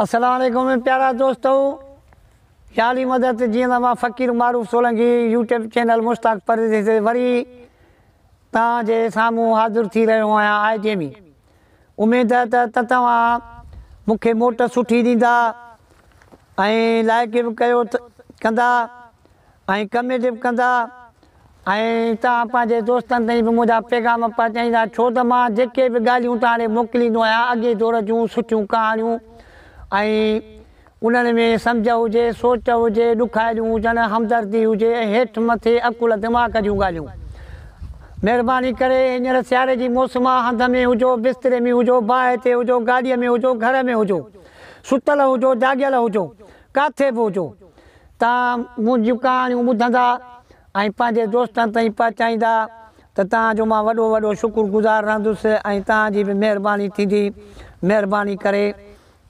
اسلام عليڪم پيارا دوستو يالي مدد جيئن مان فقير معروف سولنگي يوٽيوب چينل مشتاق پرديسي تي وري تان جي سامهون حاضر ٿي رهيو آهيان آء جيمي اميد ته ته توهان مون کي موٽ سٺي ڏيندا ۽ لائڪ به ڪيو ته ڪندا ۽ ڪميٽي به ڪندا ۽ توهان پنهنجي دوستن تائين به منهنجا پيغام پهچائيندا ڇو ته مان جيڪي به ڳالهيون توهان ڏي موڪليندو آهيان اڳئين دور جون سٺيون ڪهاڻيون ۽ انهن ۾ سمجهه هجي سوچ هجي ڏکايليون هجن همدردي هجي ۽ هيٺ مٿي عقل دماغ جون ڳالهيون مهرباني ڪري هينئر سياري جي موسم آهي هنڌ ۾ هجو بستري ۾ هجو باهه تي هجو گاڏي ۾ هجو گهر ۾ هجو ستل هجو جاڳيل هجو ڪاٿي به هجو، توهان منهنجيون ڪهاڻيون ٻڌندا ۽ پنهنجي دوستن تائين پهچائيندا ته توهان جو مان وڏو وڏو شڪر گذار رهندس ۽ توهان جي به مهرباني ٿيندي. مهرباني ڪري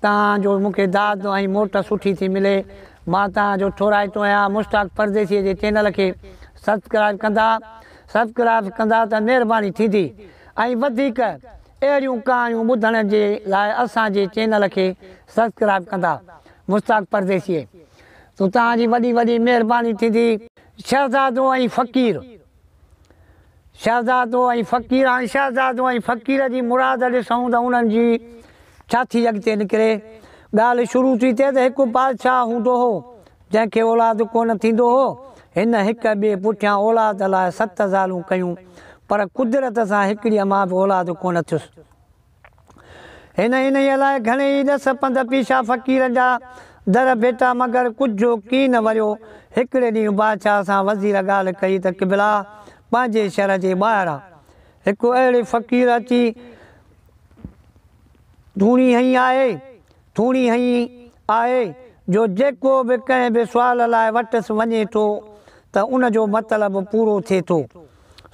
توهان جو مون کي داد ۽ موٽ سٺي ٿي ملي. مان توهان جو ٿورائتو آهيان. مشتاق پرديسيء جي چينل کي سبسڪرائيب ڪندا Subscribes ڪندا ته مهرباني ٿيندي ۽ وڌيڪ اهڙيون ڪهاڻيون ٻڌڻ جي لاء اسان جي چينل کي سبسڪرائب ڪندا مشتاق پرديسيء تون توهان جي وڏي وڏي مهرباني ٿيندي. شهزادو ۽ فقير شهزادو ۽ فقير هاڻي شهزادو ۽ فقير جي مراد ڏسون ته انهن جي ڇا ٿي اڳتي نڪري ڳالهه شروع ٿي ٿئي ته هڪ بادشاهه هوندو هو جنهن کي اولاد ڪونه ٿيندو هو هن هڪ ٻئي پٺيان اولاد لاء ست زالون ڪيون پر قدرت سان هڪڙيء مان به اولاد ڪونه ٿيس هن انهيء لاء گهڻي ئي ڏس پنڌ پيشا فقير جا در ڀيٽا مگر ڪجهو ڪين وريو. هڪڙي ڏينهن بادشاهه سان وزير ڳالهه ڪئي ته قبلا! پنهنجي شهر جي ٻاهران هڪ اهڙي فقير اچي ڌوڻي هنئي آهي، ٿوري هيء آهي جو جيڪو به ڪنهن به سوال لاء وٽس وڃي ٿو ته ان جو مطلب پورو ٿئي ٿو.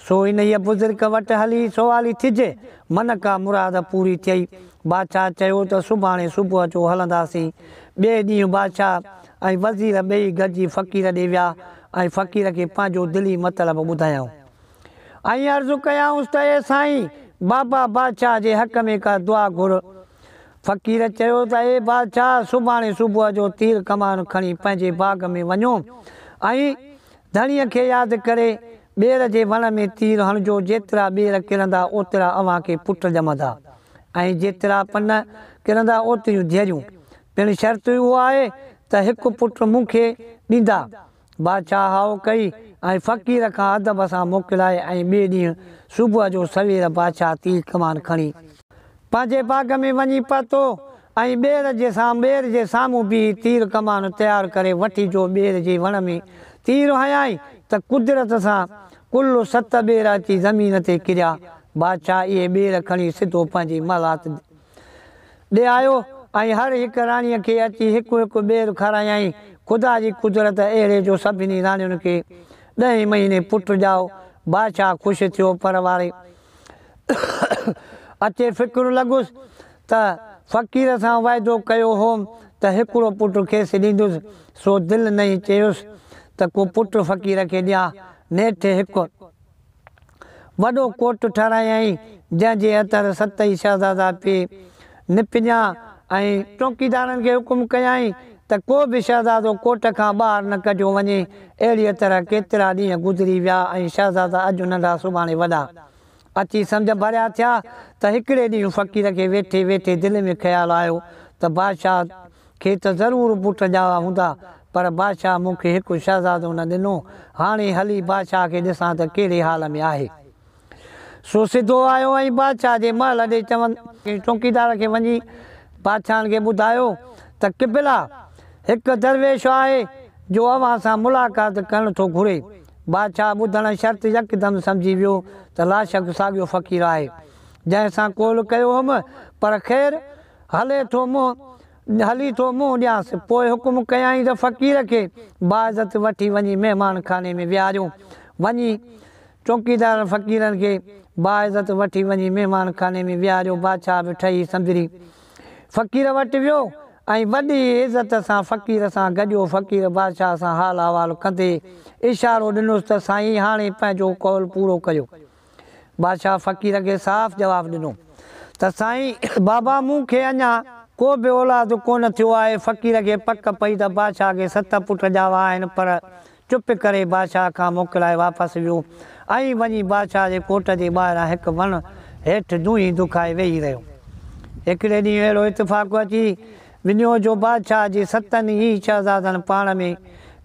سو انهيء بزرگ وٽ هلي سوالي ٿجي، من ڪا مراد پوري ٿئي. بادشاهه چيو ته سڀاڻي صبح جو هلنداسين. ٻئي ڏينهن بادشاهه ۽ وزير ٻئي گڏجي فقير ڏي ويا ۽ فقير کي پنهنجو دلي مطلب ٻڌايائون ۽ عرض ڪيائونس ته اي سائين! بابا بادشاهه جي حق ۾ ڪا دعا گهر. فقير چيو ته اي بادشاهه سڀاڻي صبح جو تير ڪمان کڻي پنهنجي باغ ۾ وڃو ۽ ڌڻيء کي ياد ڪري ٻير جي وڻ ۾ تير هڻجو جيترا ٻير ڪرندا اوترا اوهان کي پٽ ڄمندا ۽ جيترا پن ڪرندا اوتريون ڌيئريون پڻ شرط اهو آهي ته هڪ پٽ مون کي ڏيندا بادشاهه هاء ڪئي ۽ فقير کان ادب سان موڪلائي ۽ ٻئي ڏينهن صبح جو سوير بادشاهه تير ڪمان کڻي پنهنجي باغ ۾ وڃي پهتو ۽ ٻير جي سام ٻير جي سامهون بيهي تير ڪمان تيار ڪري وٺي جو ٻير جي وڻ ۾ تير هنيائين ته قدرت سان ڪل ست ٻير اچي زمين تي ڪريا بادشاهه اهي ٻير کڻي سڌو پنهنجي محلات ڏي آيو ۽ هر هڪ راڻيء کي اچي هڪ هڪ ٻير کارايائين. خدا جي قدرت اهڙي جو سڀني راڻيون کي ڏهين مهيني پٽ ڄائو. بادشاهه خوش ٿيو پر واري اچي فڪر لڳس ته فقير سان وعدو ڪيو هوم ته هڪڙو پٽ کيس ڏيندس سو دل نئين چيس ته ڪو پٽ فقير کي ڏيان. نيٺ هڪ. وڏو ڪوٽ ٺهرايائين، جنهن جي اتر ست ئي شهزادا پي نپڃا ۽ چوڪيدارن کي حڪم ڪيائين ته ڪو به شهزادو ڪوٽ کان ٻاهر نه ڪڍيو وڃي. اهڙيء طرح ڪيترا ڏينهن گذري ويا ۽ شهزادا اڄ ننڍا سڀاڻي وڏا اچي سمجهه ڀريا ٿيا ته هڪڙي ڏينهن فقير کي ويٺي ويٺي دل ۾ خيال آيو ته بادشاهه کي ته ضرور پٽ ڄائا هوندا، پر بادشاهه مون کي هڪ شهزادو نه ڏنو. هاڻي هلي بادشاهه کي ڏسان ته ڪهڙي حال ۾ آهي. سو سڌو آيو ۽ بادشاهه جي محل ڏي چون ڪنهن چوڪيدار کي وڃي بادشاهن کي ٻڌايو ته قبلا! هڪ درويش آهي، جو اوهان سان ملاقات ڪرڻ ٿو گهري. بادشاهه ٻڌڻ شرط يڪدم سمجهي ويو ته لاشڪ ساڳيو فقير آهي، جنهن سان قول ڪيو هئم، پر خير! هلي ٿو منهن هلي ٿو منهن ڏيانس. پوء حڪم ڪيائين ته فقير کي باعزت وٺي وڃي مهمان خاني ۾ ويهاريون. وڃي چوڪيدارن فقيرن کي باعزت وٺي وڃي مهمان خاني ۾ ويهاريو. بادشاهه به ٺهي سنبري فقير وٽ ويو ۽ وڏي عزت سان فقير سان گڏيو. فقير بادشاهه سان حال احوال ڪندي اشارو ڏنس ته سائين هاڻي پنهنجو قول پورو ڪيو. بادشاهه فقير کي صاف جواب ڏنو ته سائين بابا مون کي اڃا ڪو به اولاد ڪونه ٿيو آهي. فقير کي پڪ پئي ته بادشاهه کي ست پٽ ڄاوا آهن پر چپ ڪري بادشاهه کان موڪلائي واپس ويو ۽ وڃي بادشاهه جي ڪوٽ جي ٻاهران هڪ وڻ هيٺ دونهين دکائي ويهي رهيو. هڪڙي ڏينهن اهڙو اتفاق اچي وڃيو جو بادشاهه جي ستن ئي شهزادن پاڻ ۾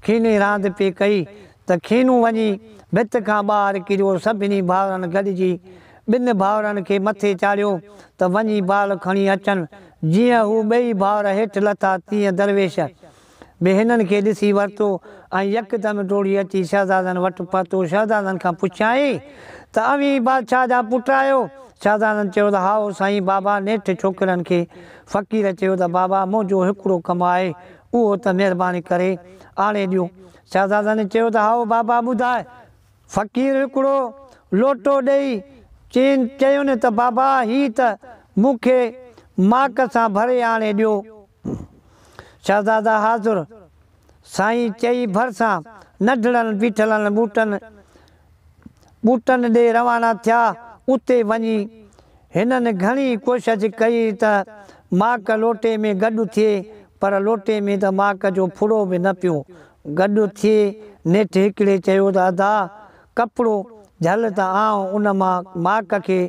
کيني راند پئي ڪئي ته کينون وڃي ڀت کان ٻاهر ڪريو سڀني ڀائرن گڏجي ٻن ڀائرن کي مٿي چاڙهيو ته وڃي بال کڻي اچن جيئن هو ٻئي ڀائر هيٺ لٿا تيئن درويش به هنن کي ڏسي ورتو ۽ يڪدم ڊوڙي اچي شهزادن وٽ پهتو شهزادن کان پڇيائين ته اوهين بادشاهه جا پٽ آهيو شهزادن چيو ته هائو سائين بابا نيٺ ڇوڪرن کي فقير چيو ته بابا منهنجو هڪڙو ڪم آهي اهو ته مهرباني ڪري آڻي ڏيو شهزادن چيو ته هائو بابا ٻڌاء. فقير هڪڙو لوٽو ڏيئي چين چيون ته بابا هي ته مون کي ماڪ سان ڀري آڻي ڏيو. شهزادا حاضر سائين چئي ڀرسان ننڍڙن بيٺلن ٻوٽن ٻوٽن ڏي روانا ٿيا. اتي وڃي هنن گهڻي ڪوشش ڪئي ته ماڪ لوٽي ۾ گڏ ٿئي پر لوٽي ۾ ته ماڪ جو ڦڙو به نه پيو گڏ ٿئي. نيٺ هڪڙي چيو ته ادا ڪپڙو جهل ته آئون ان مان ماڪ کي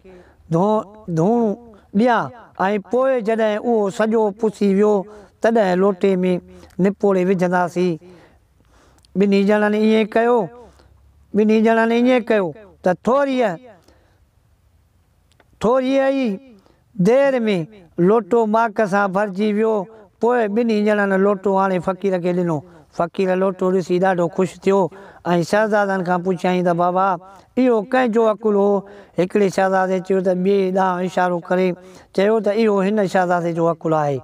ڌوئڻ ڏيان ۽ پوء جڏهن اهو سڄو پسي ويو تڏهن لوٽي ۾ نپوڙي وجهنداسين. ٻنهي ڄڻن ائين ڪيو، ٻنهي ڄڻن ائين ڪيو ته ٿوريء ٿوريء ئي دير ۾ لوٽو ماڪ سان ڀرجي ويو. پوء ٻنهي ڄڻن لوٽو آڻي فقير کي ڏنو. فقير لوٽو ڏسي ڏاڍو خوش ٿيو ۽ شهزادن کان پڇيائين ته بابا، اهو ڪنهن جو عقل هو؟ هڪڙي شهزادي چيو ته ٻئي ڏانهن اشارو ڪري چيو ته اهو هن شهزادي جو عقل آهي.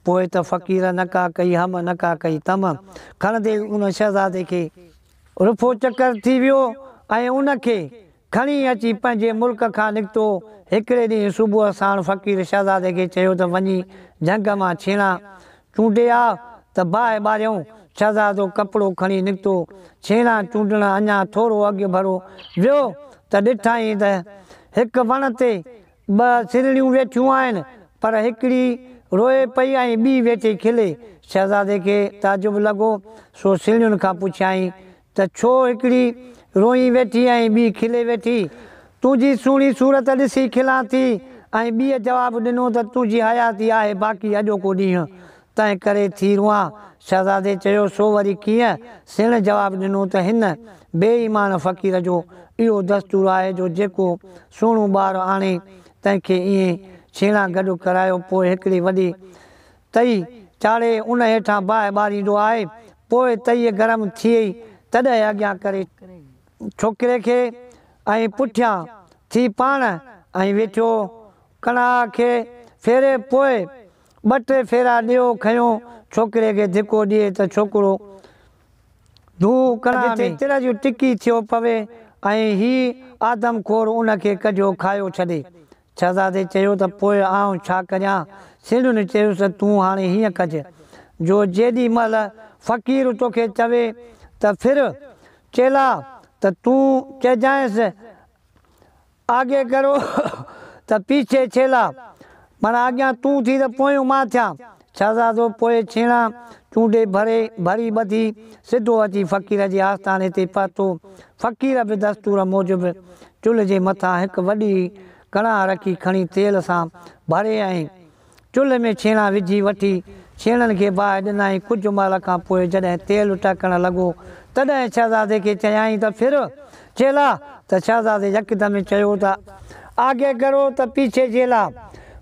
پوء ته فقير نه ڪا ڪئي هم نه ڪا ڪئي تم کڻندي ئي ان شهزادي کي رفو چڪر ٿي ويو ۽ ان کي کڻي اچي پنهنجي ملڪ کان نڪتو هڪڙي ڏينهن صبح ساڻ فقير شهزادي کي چيو ته وڃي جهنگ مان ڇيڻا چونڊي آ ته باهه ٻاريون شهزادو ڪپڙو کڻي نڪتو ڇيڻا چونڊڻ اڃا ٿورو اڳ ڀرو ويو ته ڏٺائين ته هڪ وڻ تي ٻه سرهڙيون ويٺيون آهن، پر هڪڙي روئي پئي ۽ ٻي ويٺي کلي. شهزادي کي تعجب لڳو، سو سرهڙين کان پڇيائين ته ڇو هڪڙي روئي ويٺي ۽ ٻي کلي ويٺي؟ تنهنجي سهڻي صورت ڏسي کلان ٿي ۽ ٻيء جواب ڏنو ته تنهنجي حياتي آهي باقي اڄوڪو ڏينهن تنهن ڪري ٿي روئان. شهزادي چيو، سو وري ڪيئن؟ سيڻ جواب ڏنو ته هن، بي ايمان فقير، جو اهو دستور آهي جو جيڪو سهڻو ٻار آڻي، تنهن کي ائين ڇيڻا گڏ ڪرايو، پوء هڪڙي وڏي تئي چاڙهي، ان هيٺان باهه ٻاريندو آهي، پوء تئي گرم ٿئي، تڏهن اڳيان ڪري ڇوڪري کي ۽ پٺيان ٿي پاڻ ۽ ويٺو ڪڻاهه کي ڦيري، پوء ٻه ٽي ڦيرا ڏيو کنيو ڇوڪري کي ڌڪو ڏئي ته ڇوڪرو ڌو ڪڙا ۾ جتي تر جي ٽڪي ٿيو پوي ۽ هي آدم خور ان کي ڪڍيو کايو ڇڏي. شهزادي چيو ته پوء آئون ڇا ڪريان؟ سيڻن چيس ته تون هاڻي هيئن ڪج جو جيڏي مهل فقير توکي چوي ته ڦر چيلا ته تون چئجانئس آگي ڪرو ته پيڇي ڇيلا. معنيٰ اڳيان تون ٿي ته پويون مان ٿيان. شهزادو پوء ڇيڻا چونڊي ڀري ڀري ٻڌي سڌو اچي فقير جي آستاني تي پهتو. فقير به دستور موجب چلهه جي مٿان هڪ وڏي ڪڙاهه رکي کڻي تيل سان ڀري ۽. چلهه ۾ ڇيڻا وجهي وٺي ڇيڻن کي باهه ڏنائين، ڪجهه مهل کان پوء جڏهن تيل ٽهڪڻ لڳو، تڏهن شهزادي کي چيائين ته ڦر چيلا ته شهزادي يڪدم چيو ته آگي ڪرو ته پيڇي جيلا.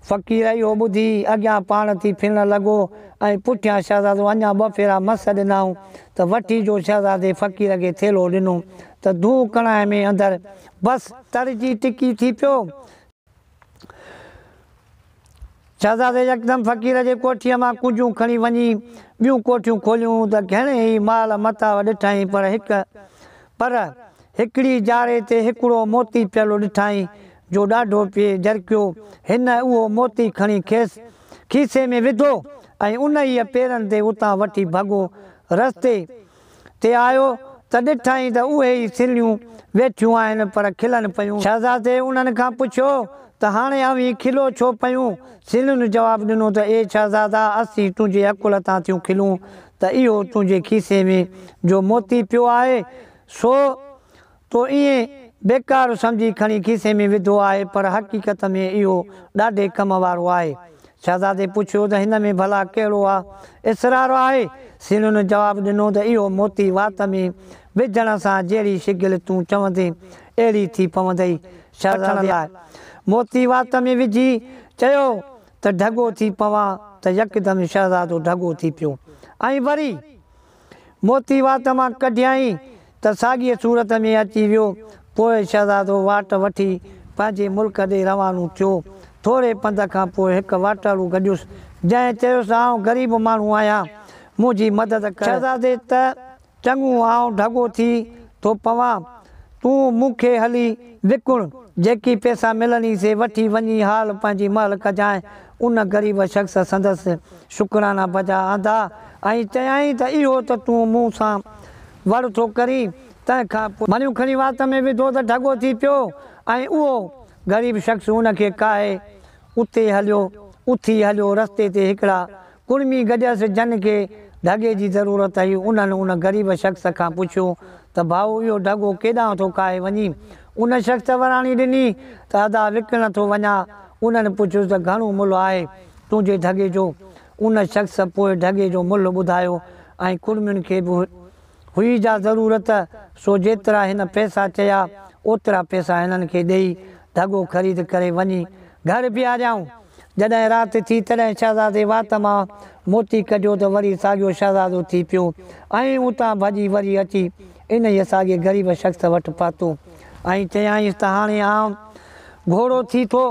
فقير اهو ٻڌي اڳيان پاڻ ٿي ڦرڻ لڳو ۽ پٺيان شهزادو اڃا ٻه ڦيرا مس ڏنائون ته وٺي جو شهزادي فقير کي ٿيلهو ڏنو ته دونهون ڪڻائي ۾ اندر بس تر جي ٽڪي ٿي پيو. شهزادي يڪدم فقير جي ڪوٺيء مان ڪونجون کڻي وڃي ٻيون ڪوٺيون کوليون ته گهڻي ئي مال متاع ڏٺائين پر هڪ پر هڪڙي جاري تي هڪڙو موتي پيل ڏٺائين جو ڏاڍو پئي جرڪيو. هن اهو موتي کڻي کيس کيسي ۾ وڌو ۽ انهيء پيرن تي اتان وٺي ڀڳو. رستي تي آيو ته ڏٺائين ته اهي ئي سرليون ويٺيون آهن پر کلن پيون. شهزادي انهن کان پڇيو ته هاڻي اوهين کلو ڇو پيون؟ سرلين جواب ڏنو ته اي شهزادا اسين تنهنجي عقل تان ٿيون کلون ته اهو تنهنجي کيسي ۾ جو موتي پيو آهي سو تو ائين بيڪار سمجهي کڻي کيسي ۾ وڌو آهي، پر حقيقت ۾ اهو ڏاڍي ڪم وارو آهي. شهزادي پڇيو ته هن ۾ ڀلا ڪهڙو آ اسرار آهي؟ سينون جواب ڏنو ته اهو موتي وات ۾ وجهڻ سان جهڙي شگل تون چوندين، اهڙي ٿي پوندئي. شهزادي موتي وات ۾ وجهي چيو ته ڍڳو ٿي پوان ته يڪدم شهزادو ڍڳو ٿي پيو ۽ وري موتي وات مان ڪڍيائين ته ساڳيء صورت ۾ اچي ويو. پوء شهزادو واٽ وٺي پنهنجي ملڪ ڏي روانو ٿيو. ٿوري پنڌ کان پوء هڪ واٽهڙو گڏيس، جنهن چيس، آئون غريب ماڻهو آهيان، منهنجي مدد ڪر. شهزادي ته چڱو، آئون ڍڳو ٿي ٿو پوان، تون مون کي هلي وڪڻ، جيڪي پئسا ملني سي وٺي وڃي حال پنهنجي مهل ڪجانء. ان غريب شخص سندس شڪرانا بجا آندا ۽ چيائين ته اهو ته تون مون سان وڙ ٿو ڪرين تنهن کان پوء مڙيون کڻي وات ۾ وڌو ته ڍڳو ٿي پيو ۽ اهو غريب شخص ان کي ڪاهي اتي هليو اٿي هليو رستي تي هڪڙا ڪڙمي گڏيس جن کي ڍڳي جي ضرورت هئي، انهن ان غريب شخص کان پڇيو ته ڀائو اهو ڍڳو ڪيڏانهن ٿو ڪاهي وڃي؟ ان شخص وراڻي ڏني ته ادا وڪڻڻ ٿو وڃان. انهن پڇيس ته گهڻو ملهه آهي تنهنجي ڍڳي جو؟ ان شخص پوء ڍڳي جو ملهه ٻڌايو ۽ ڪڙمين کي به هئي جا ضرورت سو جيترا هن پئسا چيا اوترا پئسا هنن کي ڏئي ڍڳو خريد ڪري وڃي گهر بيهاريائون. جڏهن رات ٿي تڏهن شهزادي وات مان موتي ڪڍيو ته وري ساڳيو شهزادو ٿي پيو ۽ اتان ڀڄي وري اچي انهيء ساڳي غريب شخص وٽ پهتو ۽ چيائينس ته هاڻي آئون گهوڙو ٿي ٿو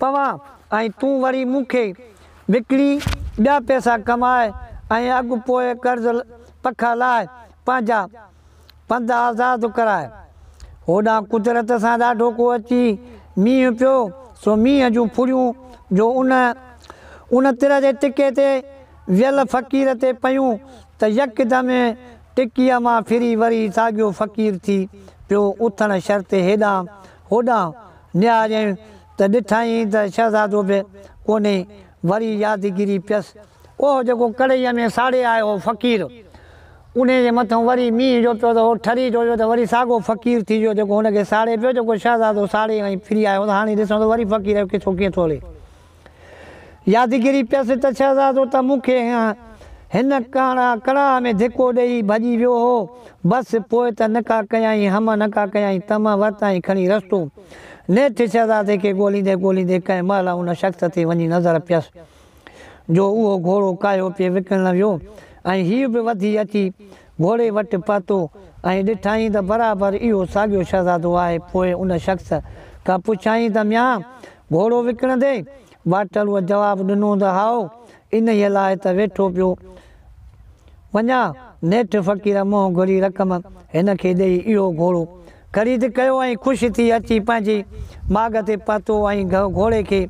پوان ۽ تون وري مون کي وڪڻي ٻيا پئسا ڪماء ۽ اڳ پوء قرض پکا لاء پنهنجا پنڌ آزاد ڪراء. هوڏانهن قدرت سان ڏاڍو ڪو اچي مينهن پيو سو مينهن جون ڦڙيون جو ان ان تر جي ٽڪي تي ويل فقير تي پيون ته يڪدم ٽڪيء مان ڦري وري ساڳيو فقير ٿي پيو اٿڻ شرطي هيڏانهن هوڏانهن نهاريائين ته ڏٺائين ته شهزادو به ڪونهي، وري يادگيري پيس. اهو جيڪو ڪڙهيء ۾ ساڙي آيو هو فقير، انهيء جي مٿان وري مينهن جو پيو ته اهو ٺري جو هيو ته وري ساڳو فقير ٿي ويو جيڪو هن کي ساڙي پيو، جيڪو شهزادو ساڙي ۽ ڦري آيو هو ته هاڻي ڏسون ته وري فقير جو قصو ڪيئن ٿو هلي. يادگيري پيس ته شهزادو ته مون کي هن ڪاڻا ڪڙاهه ۾ ڌڪو ڏيئي ڀڄي ويو هو، بس پوء ته نڪا ڪيائين هم نڪا ڪيائين تم ورتائين کڻي رستو. نيٺ شهزادي کي ڳوليندي ڳوليندي ڪنهن مهل ان شخص تي وڃي نظر پيس جو اهو گهوڙو ڪاهيو پئي وڪڻڻ ويو ۽ هيء به وڌي اچي گهوڙي وٽ پهتو ۽ ڏٺائين ته برابر اهو ساڳيو شهزادو آهي پوء ان شخص کان پڇيائين ته ميان گهوڙو وڪڻندي واٽلوء جواب ڏنو ته هائو، انهيء لاء ته ويٺو پيو وڃان. نيٺ فقير منهن گهري رقم هن کي ڏيئي اهو گهوڙو خريد ڪيو ۽ خوش ٿي اچي پنهنجي ماڳ تي پهتو ۽ گهوڙي کي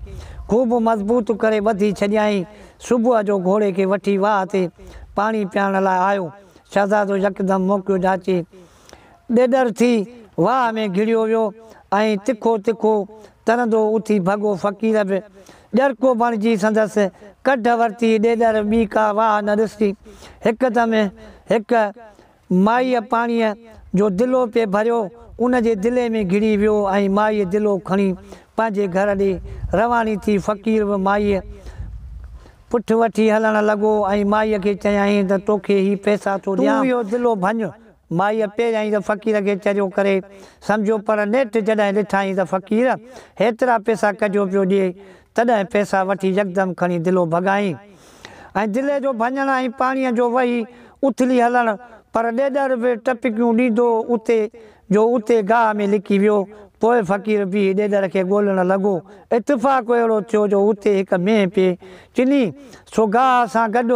خوب مضبوط ڪري ٻڌي ڇڏيائين. صبح جو گهوڙي کي وٺي واهه تي پاڻي پيارڻ لاء آيو. شهزادو يڪدم موقعو جاچي ڏيڏر ٿي واهه ۾ گهڙيو ويو ۽ تکو تکو ترندو اٿي ڀڳو فقير به ڄرڪو بڻجي سندس ڪڍ ورتي ڏيڏر ٻي ڪا واهه نه ڏسي هڪدم هڪ مائيء پاڻيء جو دلو پئي ڀريو ان جي دلي ۾ گهڙي ويو ۽ مائيء دلو کڻي پنهنجي گهر ڏي رواڻي ٿي فقير به مائيء پٺ وٺي هلڻ لڳو ۽ مائيء کي چيائين ته توکي هي پئسا ٿو ڏيان تون اهو دلو ڀڃ. مائيء پيريائين ته فقير کي چريو ڪري سمجهيو پر نيٺ جڏهن ڏٺائين ته فقير هيترا پيسا ڪجهو پيو ڏئي تڏهن پيسا وٺي يڪدم کڻي دلو ڀڳائين ۽ دلي جو ڀڃڻ ۽ پاڻيء جو وهي اٿلي هلڻ پر ڏيڏر به ٽپڪيون ڏيندو اتي جو اتي گاهه ۾ لڪي ويو پوء فقير بيهي ڏيڏر کي ڳولڻ لڳو اتفاق اهڙو ٿيو جو اتي هڪ مينهن پئي چني سو گاهه سان گڏ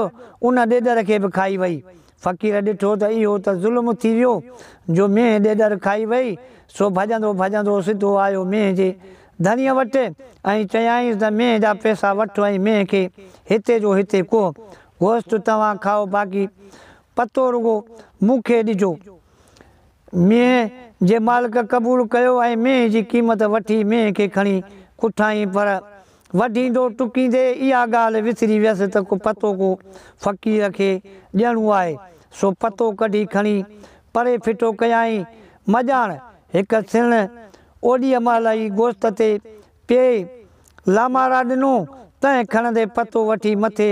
ان ڏيڏر کي به کائي وئي فقير ڏٺو ته اهو ته ظلم ٿي ويو جو مينهن ڏيڏر کائي وئي، سو ڀڄندو ڀڄندو سڌو آيو مينهن جي ڌڻيء وٽ ۽ چيائينس ته مينهن جا پئسا وٺ ۽ مينهن کي هتي جو هتي ڪوهه گوشت توهان کائو باقي پتو رڳو مون کي ڏجو. مينهن جي مالڪ قبول ڪيو ۽ مينهن جي قيمت وٺي مينهن کي کڻي اٿائين پر وڍيندو ٽڪيندي اها ڳالهه وسري ويس ته ڪو پتو ڪو فقير کي ڏيڻو آهي سو پتو ڪڍي کڻي پري ڦٽو ڪيائين مڄاڻ هڪ سڻ اوڏيء مهل ئي گوشت تي پيئي لامارا ڏنو، تنهن کڻندي پتو وٺي مٿي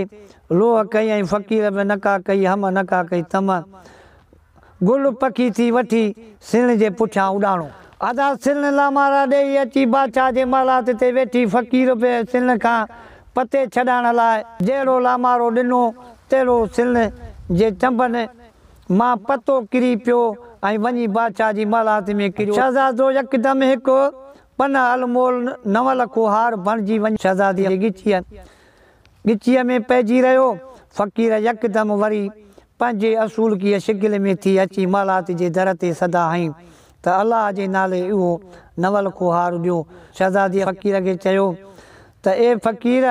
لوهه ڪئي ۽ فقير به نڪا ڪئي هم نڪا ڪئي تم گل پکي ٿي وٺي سيڻ جي پٺيان اڏاڻو. ادا سيڻ لامارا ڏيئي اچي بادشاهه جي محلات تي ويٺي فقير به سيڻ کان پتي ڇڏائڻ لاء جهڙو لامارو ڏنو تهڙو سيڻ جي چنبن مان پتو ڪري پيو ۽ وڃي بادشاهه جي محلات ۾ ڪريو. شهزادو يڪدم هڪ پنهه المول نو لکو هار بڻجي وڃي شهزاديء جي ڳچيء ڳچيء ۾ پئجي رهيو. فقير يڪدم وري پنهنجي اصولڪيء شڪل ۾ ٿي اچي محلات جي در تي صدا هنئي ته الله جي نالي اهو نو لکو هار ڏيو. شهزاديء فقير کي چيو ته اي فقير!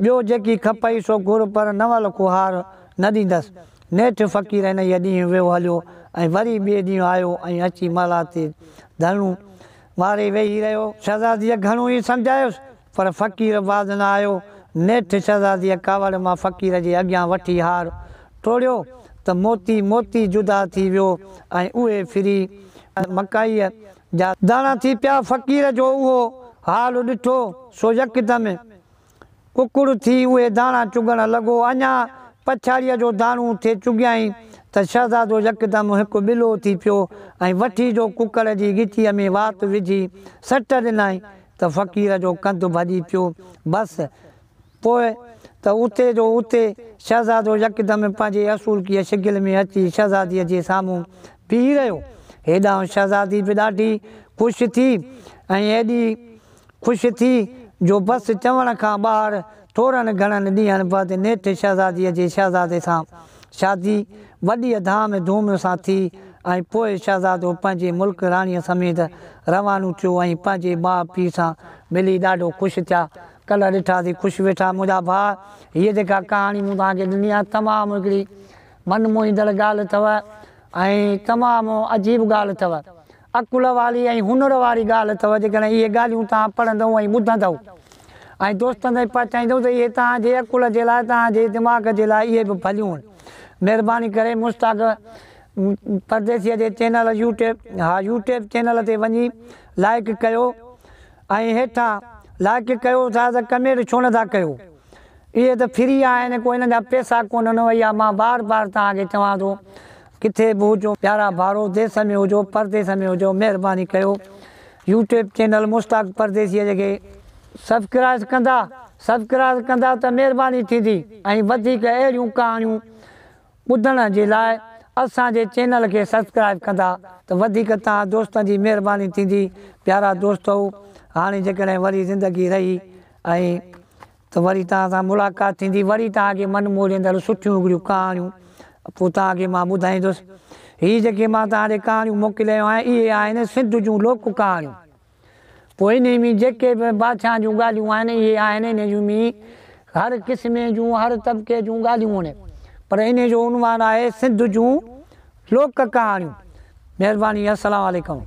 ٻيو جيڪي کپئي سو گهر پر نو لکو هار نه ڏيندس. نيٺ فقير انهيء ڏينهن ويو هليو ۽ وري ٻئي ڏينهن آيو ۽ اچي محلات تي ڌرڻو واري ويهي رهيو. شهزاديء گهڻو ئي سمجهايس، پر فقير باز نه آيو. نيٺ شهزاديء ڪاوڙ مان فقير جي اڳيان وٺي هار ٽوڙيو ته موتي موتي جدا ٿي ويو ۽ اهي ڦري ۽ مڪائيء جا داڻا ٿي پيا. فقير جو اهو حال ڏٺو، سو يڪدم ڪڪڙ ٿي اهي داڻا چڳڻ لڳو. اڃا پڇاڙيء جو داڻو ٿي چڳيائين ته شهزادو يڪدم هڪ ٻلو ٿي پيو ۽ وٺي جو ڪڪڙ جي ڳچيء ۾ وات وجهي سٽ ڏنائين ته فقير جو ڪنڌ ڀڄي پيو. بس پوء ته اتي جو اتي شهزادو يڪدم پنهنجي اصولڪيء شڪل ۾ اچي شهزاديء جي سامهون بيهي رهيو. هيڏانهن شهزادي به ڏاڍي خوش ٿي ۽ ايڏي خوش ٿي جو بس چوڻ کان ٻاهر ٿورن گهڻن ڏينهن بعد نيٺ شهزاديء جي شهزادي سان شادي وڏيء ڌام ڌوم سان ٿي ۽ پوء شهزادو پنهنجي ملڪ راڻيء سميت روانو ٿيو ۽ پنهنجي ماء پيء سان ملي ڏاڍو خوش ٿيا. ڪلهه ڏٺاسين خوش ويٺا منهنجا ڀاء. هيء جيڪا ڪهاڻي مون توهان کي ڏني آهي تمام هڪڙي من موهيندڙ ڳالهه اٿو ۽ تمام عجيب ڳالهه اٿو. عقل واري ۽ هنر واري ڳالهه اٿئو جيڪڏهن اهي ڳالهيون توهان پڙهندئو ۽ ٻڌندئو ۽ دوستن تائين پهچائيندئو ته اهي توهان جي عقل جي لاء توهان جي دماغ جي لاء اهي به ڀليون آهن مهرباني ڪري مشتاق پرديسيء جي چينل يوٽيب ها يوٽيب چينل تي وڃي لائڪ ڪيو ۽ هيٺان لائڪ ڪيو ٿا ته ڪمينٽ ڇو نٿا ڪيو اهي ته فري آهن ڪو انهن جا پيسا ڪونهن ۽ اها مان بار بار توهان کي چوان ٿو ڪٿي به هجو پيارا ڀائرو ديس ۾ هجو پرديس ۾ هجو مهرباني ڪيو يوٽيوب چينل مشتاق پرديسيء کي سبڪرائز ڪندا سبڪرائز ڪندا ته مهرباني ٿيندي ۽ وڌيڪ اهڙيون ڪهاڻيون ٻڌڻ جي لاء اسان جي چينل کي سبسڪرائب ڪندا ته وڌيڪ توهان دوستن جي مهرباني ٿيندي پيارا دوستؤ هاڻي جيڪڏهن وري زندگي رهي ۽ ته وري توهان سان ملاقات ٿيندي، وري توهان کي من موهيندڙ سٺيون اڳريون ڪهاڻيون پوء توهان کي مان ٻڌائيندس. هي جيڪي مان توهان ڏي ڪهاڻيون موڪلي رهيو آهيان، اهي آهن سنڌ جون لوڪ ڪهاڻيون. پوء انهي ۾ جيڪي به بادشاهن جون ڳالهيون آهن، اهي آهن انهي جون ۾ هر قسمي جون، هر طبقي جون ڳالهيون آهن. پر انهي جو عنوان آهي سنڌ جون لوڪ ڪهاڻيون. مهرباني السلام عليڪم.